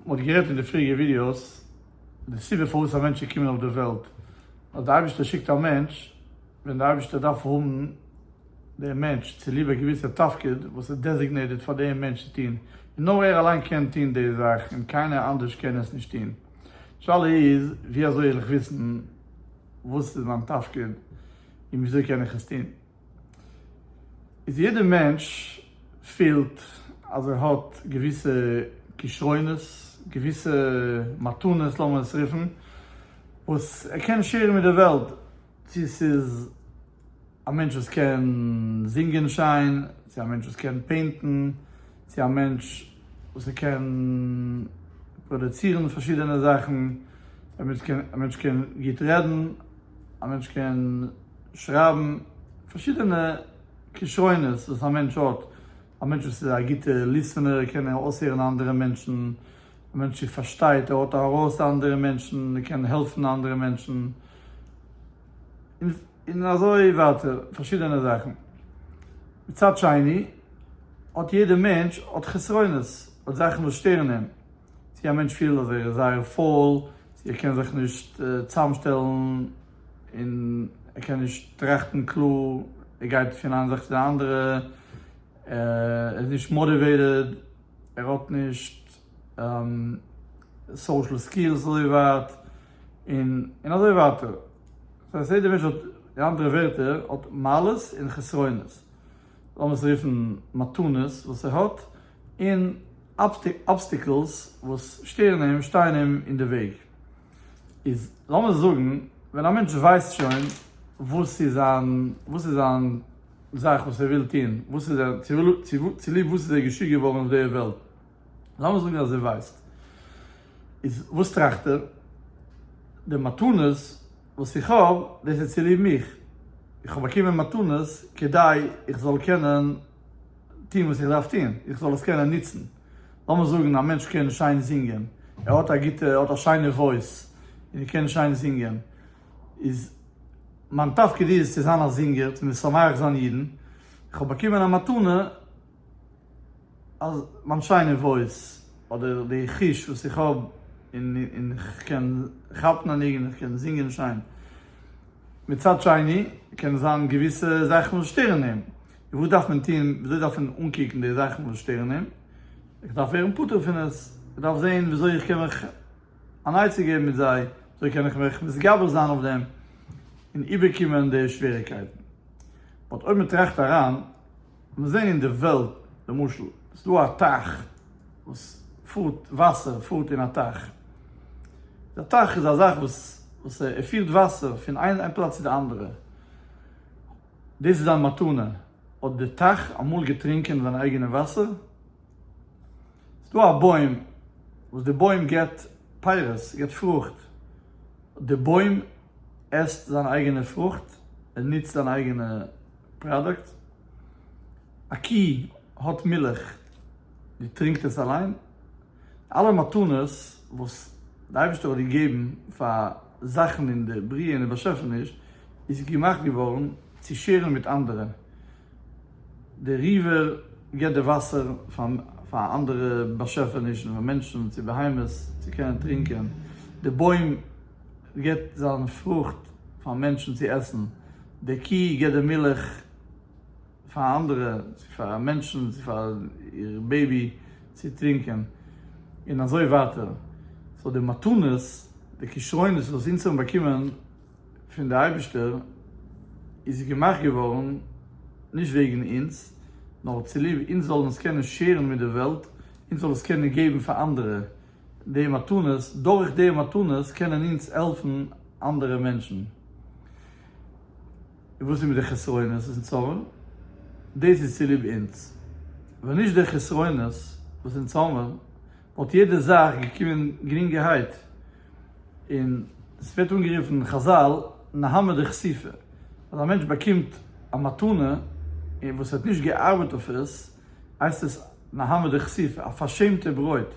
מען האט גערעדט אין די פריעריגע ווידיאוס די סיבה פארוואס א מענטש איז געקומען אויף די וועלט, אז די אייבערשטער שיקט א מענטש ווען די אייבערשטער דארף האבן דעם מענטש צוליב א געוויסע תפקיד וואס איז דעזיגנעיטעד פאר דעם מענטש צו טון, און נאר ער אליין קען טון די זאך און קיינער אנדערש קען עס נישט טון. די שאלה איז ווי אזוי וועל איך וויסן וואס איז מיין תפקיד און ווי אזוי קען איך עס טון? איז יעדער מענטש פילט אז ער האט געוויסע כשרונות, געוויסע מתנות לאמיר עס רופן, וואס ער קען שעירן מיט די וועלט, צו ס'איז א מענטש וואס קען זינגען שיין, צו א מענטש וואס קען פעינטן, צו א מענטש וואס ער קען פראדעצירן פארשידענע זאכן, א מענטש קען גוט רעדן, א מענטש קען. שרייבן פארשידענע כשרונות וואס א מענטש האט, א מענטש וואס איז א גוטע ליסענער קען אויסהערן אנדערע מענטשן, א מענטש וואס פארשטייט ער האט הערות אנדערע מענטשן, ער קען העלפן אנדערע מענטשן, און אזוי ווייטער פארשידענע זאכן. מצד שני האט יעדע מענטש האט חסרונות, האט זאכן וואס שטערן אים, צו א מענטש פילט אז ער איז זייער פויל, צו ער קען זיך נישט צאמשטעלן און ער קען נישט טראכטן קלאר, ער גייט פון איין זאך צו די אנדערע, ער איז נישט מאטיוועיטעד, ער האט נישט סאושעל סקילס אזוי ווייט, און און אזוי ווייטער. סא עס יעדער מענטש האט, אין אנדערע ווערטער, האט מעלות און חסרונות. לאמיר עס רופן מתנות וואס ער האט, און אבסטיקלס וואס שטערן אים, שטייען אים אין די וועג. איז לאמיר זאגן ווען א מענטש ווייסט שוין וואס איז זיין וואס איז זיין זאך וואס ער וויל טון וואס איז ער צוליב וואס איז ער געשיקט געווארן אויף די וועלט לאמיר זאגן אז ער ווייסט איז וואס טראכט ער די מתנות וואס איך האב דאס איז צוליב מיך איך האב באקומען מתנות כדי איך זאל קענען טון וואס איך דארף טון איך זאל עס קענען נוצן, לאמיר זאגן א מענטש קען שיין זינגען, ער האט א גוטע, ער האט א שיינע וואויס, און ער קען שיין זינגען, איז מיין תפקיד איז צו זיין א זינגער, צו משמח זיין אידן, איך האב באקומען א מתנה אז מיין שיינע וואויס, אדער די חוש וואס איך האב, און און איך קען כאפן א ניגון, איך קען זינגען שיין, מצד שני קען זיין געוויסע זאכן וואס שטערן אים. וואס דארף מען טון? וויאזוי דארף מען אנקוקן די זאכן וואס שטערן אים? איך דארף ווערן פטור פון עס, איך דארף זען וויאזוי איך קען מיך אן עצה געבן מיט זיי, וויאזוי קען איך מיך מתגבר זיין אויף דעם און איבערקומען די שוועריגקייטן. באט אויב מען טראכט אריין, מיר זען אין די וועלט למשל, עס איז דא א טייך וואס פארט, וואסער פארט אין א טייך, די טייך איז א זאך וואס פירט וואסער פון איין פלאץ צו די אנדערע, דאס איז דיין מתנה? האט די טייך אמאל געטרינקען זיין אייגענע וואסער? ס'איז דא א בוים וואס די בוים געבט פירות, געבט פרוכט, האט די בוים עסט זיין אייגענע פרוכט, ער נוצט זיין אייגענע פראדוקט? א קי האט מילך, זי טרינקט עס אליין? אלע מתנות וואס די אייבערשטער האט געגעבן פאר זאכן אין די בריאה און די באשעפעניש איז געמאכט געווארן צו שעירן מיט אנדערע, דער ריווער געבט די וואסער פאר אנדערע באשעפענישן, פאר מענטשן, צו בהמות צו קענען טרינקען, דער בוים געבט זיין פרוכט פאר מענטשן צו עסן, דער קוה געבט די מילך. פאר אנדערע, צו פאר מענטשן, צו פאר איר בעיבי צו טרינקען, און אזוי ווייטער. סאו די מתנות, די כשרונות וואס אונז האבן באקומען פון די אייבישטער, איז געמאכט געווארן נישט וועגן אונז, נאר צוליב אונז זאלן עס קענען שעירן מיט די וועלט, אונז זאלן עס קענען געבן פאר אנדערע, די מתנות, דורך די מתנות קענען אונז העלפן אנדערע מענטשן. און וואס איז מיט די חסרונות און צרות? דאס איז צוליב אונז. ווען נישט די חסרונות וואס אונז האבן, וואלט יעדע זאך געקומען גרינגערהייט, און עס ווערט אנגערופן אין חזל נהמא דכסיפא, אז א מענטש באקומט א מתנה, און וואס ער האט נישט געארבעט אויף עס, הייסט עס נהמא דכסיפא, א פארשעמטע ברויט,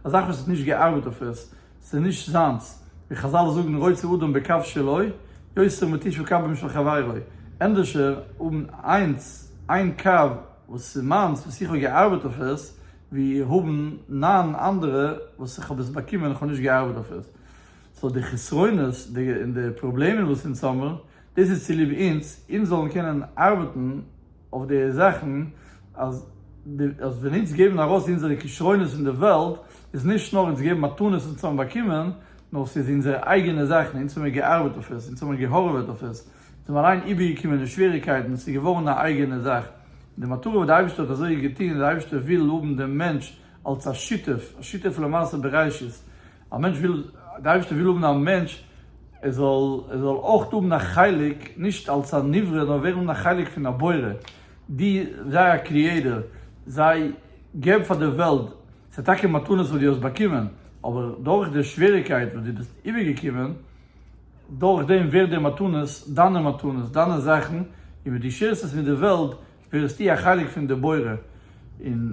א זאך וואס ער האט נישט געארבעט אויף עס, ס'איז נישט זיינס, ווי חזל זאגן רוצה אדם בקב שלו, יוצר מתיש בקבם של חברו, ענדערשער האבן איינס, איין קב וואס איז מיינס וואס איך האב געארבעט אויף עס, ווי האבן נײַן אנדערע וואס איך האב עס באקומען איך האב נישט געארבעט אויף עס. סאו די חסרונות און די פראבלעמען וואס אונז האמער דאס איז צוליב אונז, אונז זאלן קענען ארבעטן אויף די זאכן, אז ווען אונז געבן ארויס אונזערע כשרונות אין די וועלט, איז נישט נאר אונז געבן מתנות אונז האבן באקומען, נאר ס'איז אונזערע אייגענע זאכן, אונז האמיר געארבעט אויף עס, אונז האמיר געהארוועט אויף עס, אונז האבן אליין איבערגעקומען די שוועריקייטן, ס'איז געווארן א אייגענע זאך. די מטרה וואס די אייבערשטער האט אזוי געטון, די אייבערשטער וויל האבן דעם מענטש אלס א שותף, א שותף למעשה בראשית, א מענטש וויל, די אייבערשטער וויל האבן א מענטש ער זאל ער זאל אויך האבן א חלק, נישט אלס א נברא נאר ווערן האבן א חלק פון הבורא, די זיי א קריעטער, זיי געב פאר די וועלט, ס'איז טאקע מתנות וואס די האסט באקומען, אבער דורך די שוועריקייט וואס די ביסט איבער געקומען, דורך דעם ווערט די מתנות דיינע מתנות, דיינע זאכן, און ווען די שערסט עס מיט די וועלט, ווערסטו א חלק פון די בורא, און.